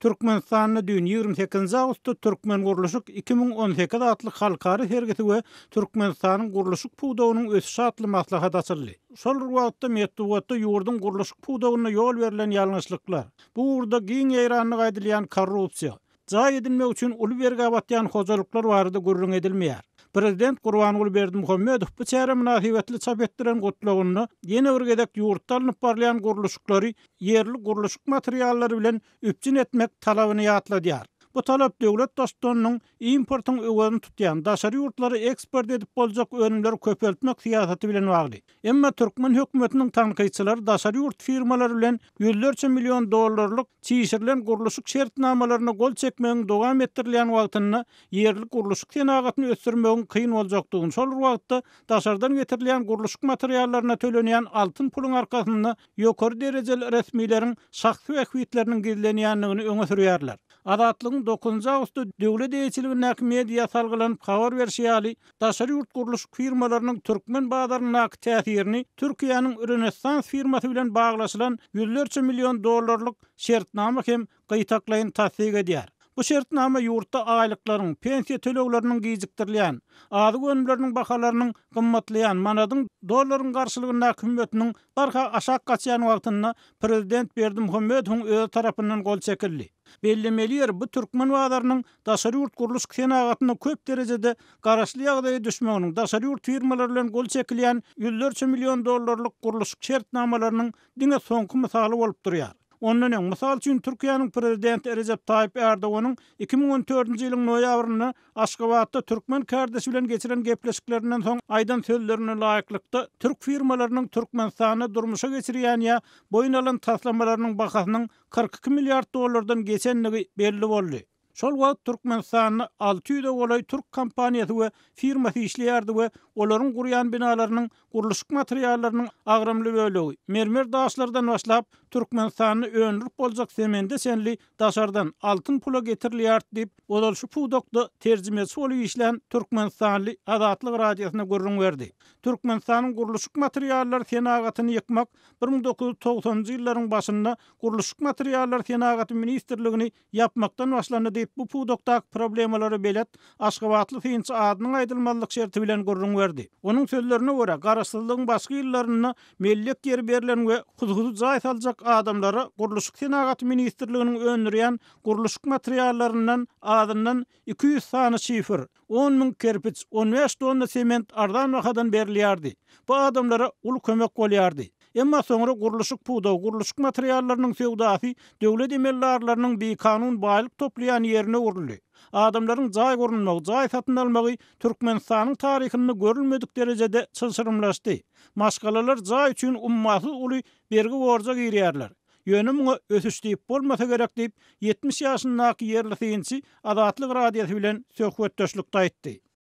Türkmenistanda düýn, ýigrimi sekizinji awgustda Türkmengurluşyk iki müň on sekiz atly halkara sergisi we Türkmenistanyň gurluşyk pudagynyň ösüşi atly maslahat açyldy. Şol bir wagtda, metbugatda ýurduň gurluşyk pudagynda ýol berlen ýalňyşlyklar, bu ugurda giň ýaýranlygy aýdylýan korrupsiýa, jaý edinmek üçin uly bergä batýan hojalyklar barada gürrüň edilmeýär. Prezident Gurbanguly Berdimuhamedow bu çäre mynasybetli çap etdiren Gutlagynda ýene bir gezek ýurtda alnyp barylýan gurluşyklary ýerli gurluşyk materiallary bilen üpjün etmek talabyny ýatladýar. Bu talap döwlet daştunynyň importyň öwezini tutýan, daşary ýurtlara eksport edip boljak önümleri köpeltmek syýasaty bilen bagly. Emma türkmen hökümetiniň tankytçylary daşary ýurt firmalary bilen ýüzlerçe million dollarlyk çişirilen gurluşyk şertnamalaryna gol çekmegiň dowam etdirilýän wagtynda ýerli gurluşyk senagatyny ösdürmegiň kyn boljakdygyny, şol bir wagtda daşardan getirilýän gurluşyk materiallaryna tölenýän altyn puluň arkasynda ýokary derejeli resmileriň şahsy bähbitleriniň gizlenýändigini öňe sürýärler. Azatlygyň dokuzynjy awgustda döwlet eýeçiligindäki mediýa salgylanyp habar berşi ýaly, daşary ýurt gurluşyk firmalarynyň türkmen bazaryndaky täsirini Türkiýäniň Rönesans firmasy bilen baglaşylan ýüzlerçe million dollarlyk şertnama hem gytaklaýyn tassyk edýär. Bu şertnama ýurtda aýlyklaryň, pensiýa tölegleriniň gijikdirilýän, azyk önümleriniň bahalarynyň gymmatlaýan, manadyň dollaryň garşylygyndaky hümmetiniň barha aşak gaçýan wagtynda prezident Berdimuhamedowyň özi tarapyndan gol çekildi. Bellemeli ýeri, bu türkmen bazarynyň daşary ýurt gurluşyk senagatyna köp derejede garaşly ýagdaýa düşmeginiň, daşary ýurt firmalary bilen gol çekilýän ýüzlerçe million dollarlyk gurluşyk şertnamalarynyň diňe soňky mysaly bolup durýar. Ondan öň, mysal üçin, Türkiýäniň prezidenti Rejep Taýyp Ärdoganyň iki müň on dördünji ýylyň noýabrynda Aşgabatda türkmen kärdeşi bilen geçiren gepleşiklerinden soň aýdan sözlerine laýyklykda, türk firmalarynyň Türkmenistanda durmuşa geçirýän ýa boýun alan taslamalarynyň bahasynyň kyrk iki milliard dollardan geçendigi belli boldy. Şol wagt Türkmenistanda alty ýüze golaý türk kompaniýasy we firmasy işleýärdi we olaryň gurýan binalarynyň gurluşyk materiallarynyň agramly bölegi, mermer daşlardan başlap, Türkmenistanda öndürip boljak semende çenli daşardan altyn pula getirilýärdi diýip, ozal şu pudakda terjimeçi bolup işlän türkmenistanly Azatlyk Radiosyna gürrüň berdi. Türkmenistanyň gurluşyk materiallary senagatyny ýykmak bir müň dokuz ýüz togsanynjy ýyllaryň başynda Gurluşyk materiallary senagaty ministrligini ýapmakdan başlandy diýip, bu pudakdaky problemalara belet aşgabatly synçy adynyň aýdylmazlyk şerti bilen gürrüň berdi. Onuň sözlerine görä, Garaşsyzlygyň başky ýyllarynda mellek ýeri berlen we hudhuzy jaý saljak adamlara Gurluşyk senagaty ministrliginiň öndürýän gurluşyk materiallaryndan azyndan iki ýüz sany şifr, On müň kerpiç, on bäş tonna sement arzan bahadan berilýärdi. Bu adamlara uly kömek bolýardy. Emma soňra gurluşyk pudagy, gurluşyk materiallarynyň söwdasy döwlet emeldarlarynyň bikanun baýlyk toplaýan ýerine öwrüldi. Adamlaryň jaý gurunmagy, jaý satyn almagy Türkmenistanyň taryhynda görülmedik derejede çylşyrymlaşdy. Maşgalalar jaý üçin ummasyz uly bergi-borja girýärler. Ýöne muňa ösüş diýip bolmasa gerek diýip, ýetmiş ýaşyndaky ýerli synçy Azatlyk Radiosy bilen söhbetdeşlikde aýtdy.